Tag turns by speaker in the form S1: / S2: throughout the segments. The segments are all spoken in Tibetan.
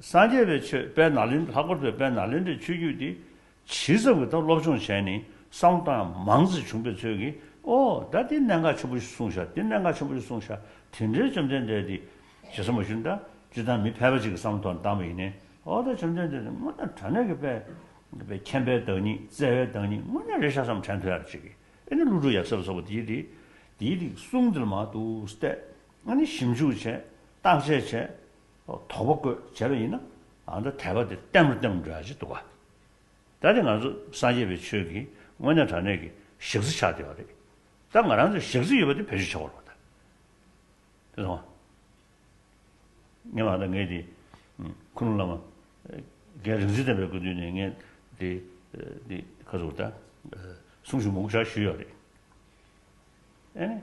S1: སངས་རྒྱས་པའི་ཆོས་དཔལ་ནཱ་ལེནྡྲ་ལྷག་པར་དུ་དཔལ་ནཱ་ལེནྡྲའི་ཆོས་བརྒྱུད་འདི་ཇི་ཙམ་གྱི་ཐོག་སློབ་སྦྱོང་བྱས་ནས་གསང་གཏམ་མང་ཙམ་བྱུང་པའི་ཚོད་ཀྱིས་ཨོ། ད་འདི་གནད་འགག་ཆེན་པོ་ཞིག་གསུངས་ཤག་འདི་གནད་འགག་ཆེན་པོ་ཞིག་གསུངས་ཤག་དེ་འདྲའི་བཅོམ་ལྡན་འདས་འདི་ཇི་ཙམ་མ་ཞུ་ན་ད་འདི་ད་མི་ཕལ་པ་ཅིག་གི་བསམ་བློ་ཐོག་ནས་བཏང་བ་ཡིན་ནའི་ཨོ་ད་བཅོམ་ལྡན་འདས་འདི་སྔོན་ན་དྲ་གནས་ཀྱི་དཔལ་མཁྱེན་པའི་བདག་ཉིད་བརྩེ་བའི་བདག་ཉིད་སྔོན་ན་རེ་ཤ་ཙམ་དྲན་ཐོས་ཡ་རེ་བྱེད་ཀྱི་ཨེ་ནི་ཀླུ་སྒྲུབ་ཡབ་སྲས་ལ་སོགས་པ་འདིའི་འདི་འདི་གསུངས་འདི་ལ་མ་གཏུགས་སྟེ། ང་ནི་ཞིབ་འཇུག་བྱས། བརྟག་དཔྱད་བྱས། དོགས་པ་བཀོད་བྱས་པ་ཡིན་ན། འདི་དད་པ་འདི་གཏན་མི་གཏན་འདྲ་ཅི་འདུག་ག། ད་དེ་ང་ཚོ་སངས་རྒྱས་པའི་ཆོས་ཀྱིས་དངོས་གནས་དྲང་གནས་ཀྱི་གཞག་རྩི་ཆགས་བསྡད་པ་རེད། ད་ང་རང་ཚོས་གཞག་རྩི་ཡོད་པ་དེ་བེད་སྤྱོད་བྱ་བ་རོགས་ད། དེ་མཐོང་ང། ངས་མ་ད་ངས་དེ། ཁུ་ནུ་བླ་མ། རྒན་རིག་འཛིན་བསྟན་པའི་སྐུ་མདུན་ནས་ངས་དེ། དེ་ཁ་ཟུར་ད། གསུང་ཞུ་མུག་ཆ་ཞུས་ཡོད་རེད། ཨེ།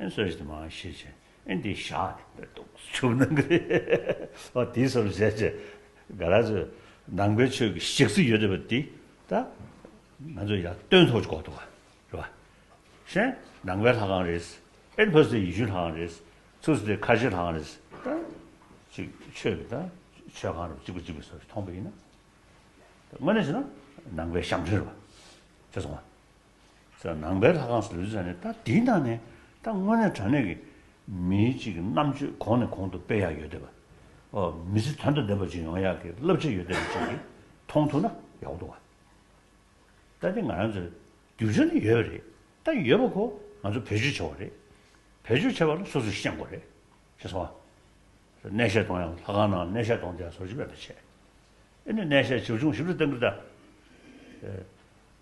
S1: ཨེ་སོད་ཅིག་མ་ཤེས་ཅིག་ཨེ་འདི་ཞག་པའི་དུག་ཆུ་ནང་གི་རེད་འོ་དེ་སོར་བཞད་ཅིག་ག་ར་ཟོས་ནང་པའི་ཆོས་ཀྱི་ཞིག་གསི་ཡོད་རེད་པ་འདི་ད་ང་ཚོ་ཡར་སྟོན་ཐོག་ཅིག་གོ་ཐུག་ག་རེད་པ་ཤེས་ནང་པའི་ལྷ་ཁང་རེད་ཨེ་ཕ་སི་ཡི་ཤུ་ལྷ་ཁང་རེད་ཚུར་སི་ཏི་ཁ་ཤི་ལྷ་ཁང་རེད་ད་ཅིག་ཆོས་ཀྱི་ད་ཆོས་ཁང་རུ་ཅིག་པ་ཅིག་པའི་སོར་མཐོང་པ་ཡིན་ན་དངོས་གནས་བྱས་ན་ནང་པའི་ཞབས་འདྲེན་རེད་པ་ཤེས་སོང་ང། ཟེར། ནང་པའི་ལྷ་ཁང་སུ་ཡོད་ཟེར་ནས་ད་དེའི་ནང་ནས་ད་དངོས་གནས་དྲང་གནས་ཀྱི་མིའི་གཅིག་གི་རྣམ་དཔྱོད་གོང་ནས་གོང་དུ་སྤེལ་ཡག་ཡོད་བསྡད་པ། འོ་མི་ཚེ་དོན་དུ་བསྡད་པ་ཅིག་ཡོང་ཡག་གི་བསླབ་བྱ་ཡོད་བསྡད་པ་ཅིག་གིས་མཐོང་ཐུབ་ན་ཡག་པོ་འདུག་བ། ད་དེ་ང་རང་ཚོའི་རྒྱུ་ཆ་ནི་ཡོད་རེད་ད་ཡོད་པ་ཁོ་ང་ཚོ་བེད་སྤྱོད་བྱ་བ་རེད། བེད་སྤྱོད་བྱེད་པ་ལ་སོ་སོས་ཤེས་དགོས་རེད་ཅེས་གསུང་བ། གནས་བཤད་གཏོང་ཡང་ལྷ་ཁང་ནང་གནས་བཤད་གཏོང་དེ་ཡང་ཟོར་བྱིས་པས་ད་བྱས། ཨེ་ནས་གནས་བཤད་བྱེད་བྱུང་ཞིབ་ཏུ་བསྟན་ཁུལ་ད།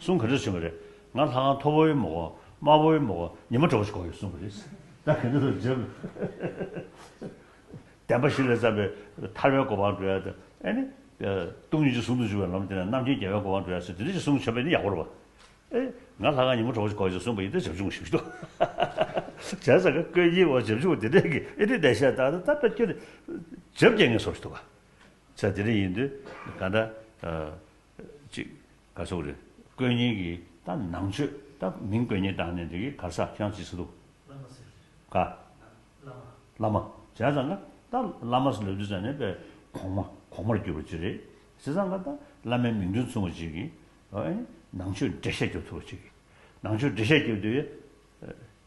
S1: གསུང་ག་འདྲ་བྱུང་བ་རེད། ང་ལྷ་ཁང་མཐོ་བོའི་མོ་གོ་དམའ་བོའི་མོ་གོ་ཉི་མ་དྲོ་བོ་ཞིག་གོ་ཡོད་གསུང་གི་རེད། ད་ག་འདྲ་ཐུབ་བརྗོད་དགོས། བདེན་པ་བཞི་ལས་བརྩམས་པའི་ཐར་བའི་གོ་འཕང་བྲོ་ཡ་དེ་ཨེ་ནི། སྟོང་ཉིད་ཀྱི་ཟུང་དུ་འཇུག་པའི་ལམ་དེ་ནས་རྣམ་མཁྱེན་རྒྱལ་བའི་གོ་འཕང་བྲོ་ཡ་ཟེར་དེ་འདྲ་ཞིག་གསུང་ཆོག་པས་ནི་ཡག་པོ་རེད་བ། ཨེ། ང་ལྷ་ཁང་ཉི་མ་དྲོ་བོ་ཞིག་གོ་ཡོད་ཟེར་གསུང་པ་ཡིན་ཏེ་བྱབ་ཆུང་ཞིག་འདུག། བྱས་ཙང་ཁ་ཀོས་ཡིད་འོང་བྱབ་ཆུང་དེ་འདྲས་ཀྱིས་ཨེ་ནི་བདེ་གཤེགས་བདག་ལྟར་བསྟབས་པས་ཁྱོད་ནི་བྱབ་རྒྱལ་ངན་སོང་ཞིག་འདུག་བ། ཚེ་འདི་འདྲ་ཡིན་དུས་ག་འདྲ། གཅིག། ག་ཚོགས་རེད། དཀོན་གཉེར་གྱི་ད་ནང་ཆོས་ད་མིང་དཀོན་གཉེར་དང་ནི་འདི་གི་གར་ས་ཤང་ཅི་སི་འདུག། བླ་མ་ཟེར། ག། བླ་མ། བླ་མ། བྱས་ཙང་ག་ད་བླ་མ་སི་ལབ་རྒྱུ་ཙང་ནི་པའི་གོང་མ་གོང་མར་གྱུར་པ་ཅི་རེད། བྱས་ཙང་ག་ད་བླ་མའི་མིང་དོན་མཚུངས་པ་ཅིག་གིས། ནང་ཆོས་འབྲེལ་བཤད་རྒྱབ་ཐུབ་པ་ཅིག་གིས། ནང་ཆོས་འབྲེལ་བཤད་རྒྱབ་དུས།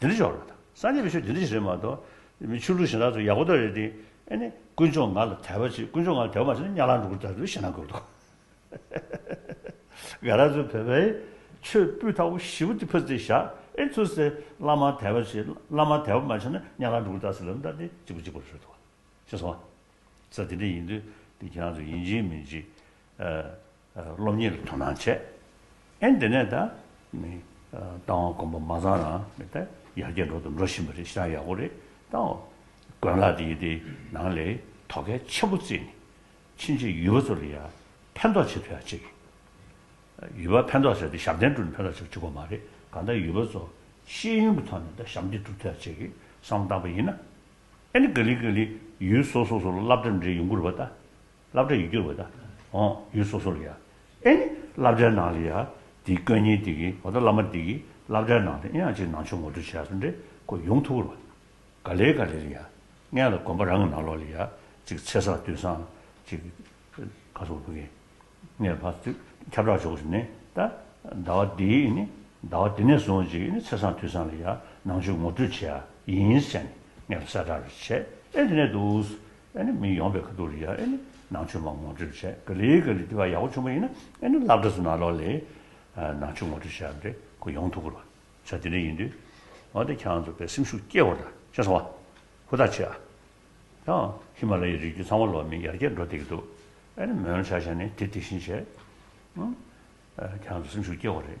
S1: དེ་འདྲ་ཞོག་ལ་དང་སངས་རྒྱས་པའི་ཆོས་དེ་འདྲ་ཞིག་རེད་མ་གཏོགས། ཆོས་ལུགས་གཞན་དག་ཚོ་ཡག་པོ་དག་རེད་དེ། ཨཱ་ནི། དཀོན་མཆོག་ང་ལ་དད་པ་བྱེད་དཀོན་མཆོག་ང་ལ་དད་པ་མ་བྱེད་ན་གཉའ་ལག་འདྲུག་གུར་དག་ཚོའི་ཞེད་སྣང་འཁོལ་འདུག། དགའ་ར་ཚོས་བོད་པའི་ཆོས་སྤུས་དག་པོ་བཞི་བོ་དེ་ཕུད་རྩིས་བཞག་ཨེ་ཚུལ་ཟེར་བླ་མར་དད་པ་བྱེད་བླ་མར་དད་པ་མ་བྱེད་ན་གཉའ་ལག་འདྲུག་གུར་དག་ཚོའི་ལམ་དག་དེ་གཅིག་པུ་གཅིག་པུར་ཤོད་འདུག་ཤེས་སོང། ས་དེ་འདྲ་ཡིན་དུས་དེ་ཁྱེད་རང་ཚོ་ཡིན་གཅིག་མིན་གཅིག། སློབ་གཉེར་ལ་དོ་སྣང་བྱས། ཨེ་འདི་ནས་ད། རྟ་དབང་དགོན་པ་མ་ཚང་རང་མི་ད་ཡར་རྒྱས་འགྲོ་དང་འགྲོ་བཞིན་པ་རེད་ཤི་ན་ཡག་པོ་རེད་ད། དགོན་ལག་དེ་ཡི་དེ་ནང་ལས་དོ་གལ་ཆེན་པོ་བརྩིས་ནས་ཕྱིན་ཆད་ཡུལ་བ་ཚོ་ལ་ཡང་ཕན་ཐོག་བྱེད་ཐུབ་ཡག་བྱེད་ཀྱི། ཡུལ་བ་ཕན་ཐོག་བྱས་ཏེ་ཞབས་བརྟན་བསྒྲུབ་ནས་ཕན་ཐོག་བྱེད་པ་ཅི་དགོས་མ་རེད་གང་ལྟར་ཡུལ་བ་ཚོ་ཤེས་ཡོན་གྱི་ཐོག་ནས་ད་ཞབས་འདེགས་བསྒྲུབ་ཐུབ་ཡག་བྱེད་ཀྱི་བསམ་བློ་བཏང་པ་ཡིན་ན། ཨེ་ནི་ག་ལི་ག་ལི་ཡུལ་སོ་སོ་སོ་ལ་བསླབ་གྲྭ་འབྲེལ་ཡོང་དགོས་རེད་པ་ད། བསླབ་བྲ་ཡུལ་གྱི་འོད་དང། ཡུལ་སོ་སོ་ལ་ཡང། ཨེ་ནི། བསླབ་བྲའི་ནང་ལ་ཡང། དེའི་སྐོས་ཉིད་དེ་གིས་མ་གཏོགས་བླ་མ་དེ་གིས་བསླབ་བྲའི་ནང་དུ་དབྱངས་གཅིག་ནང་ཆོས་ངོ་སྤྲོད་བྱས་སོ་འདྲེ་ཀོ་ཡུངས་ཐུགས་ལ། ག་ལེ་ག་ལེ་ལ་ཡང། མངལ་ལ་དགོན་པ་རང་གི་ནང་ལོགས་ལ་ཡང། ཅིག་ཚེ་སྲོག་དུས་བཟང། ཅིག། ག་སོགས་བུ་གའི། མངལ་བར་དུས། ཁྱབ་བསྒྲགས་འཇོག་བཞིན་ནི། ད། ཟླ་བ་འདི། ཨེ་ནི། ཟླ་བ་འདི་ནས་བཟུང་ཅིག་ཨེ་ནི་ཚེ་བཟང་དུས་བཟང་ལ་ཡང། ནང་ཆོས་ངོ་སྤྲོད་བྱས། ཡིན། བྱས་ནས་མངལ་བར་གསལ་བསྒྲགས་རེ་བྱས། ཨེ་དེ་ནས་དུ། ཨེ་ནི་མི་ཡོང་པའི་ཁ་ཐུག་རེད་ཡ་ཨེ་ནི་ནང་ཆོས་མ་ངོ་སྤྲོད་བྱས་ག་ལེ་ག་ལེ་འདི་བ་ཡག་པོ་ཆོ་མ་ཡིན་ན་ཨེ་ནི་ལབ་དྲ་སུ་ན་ལོག་ལེ། ནང་ཆོས་ངོ་སྤྲོད་བྱས་རེ་ཁོ་ཡོང་ཐུག་གུ་ར་བྱ་དེ་འདྲ་ཡིན་དུས་ཨོ་དེ་ཁྱང་ཚོ་བའི་སེམས་ཤུགས་སྐྱེ་བོ་འདྲ་ཤེས་སོང་བ་ཧུ་ཐག་ཆོད་ཨ། ཡང་ཧི་མ་ལ་ཡའི་རི་རྒྱུད་ཚང་བ་ལོག་མིན་ཡར་རྒྱས་འགྲོ་བསྡད་ཀྱི་འདུག་ཨེ་ནི་མོན་ལ་ཆ་བཞག་ནས་དེ་དེ་བཞིན་བྱས། ཨོ། ཁྱང་ཚོ་སེམས་ཤུགས་སྐྱེ་བོ་རེད།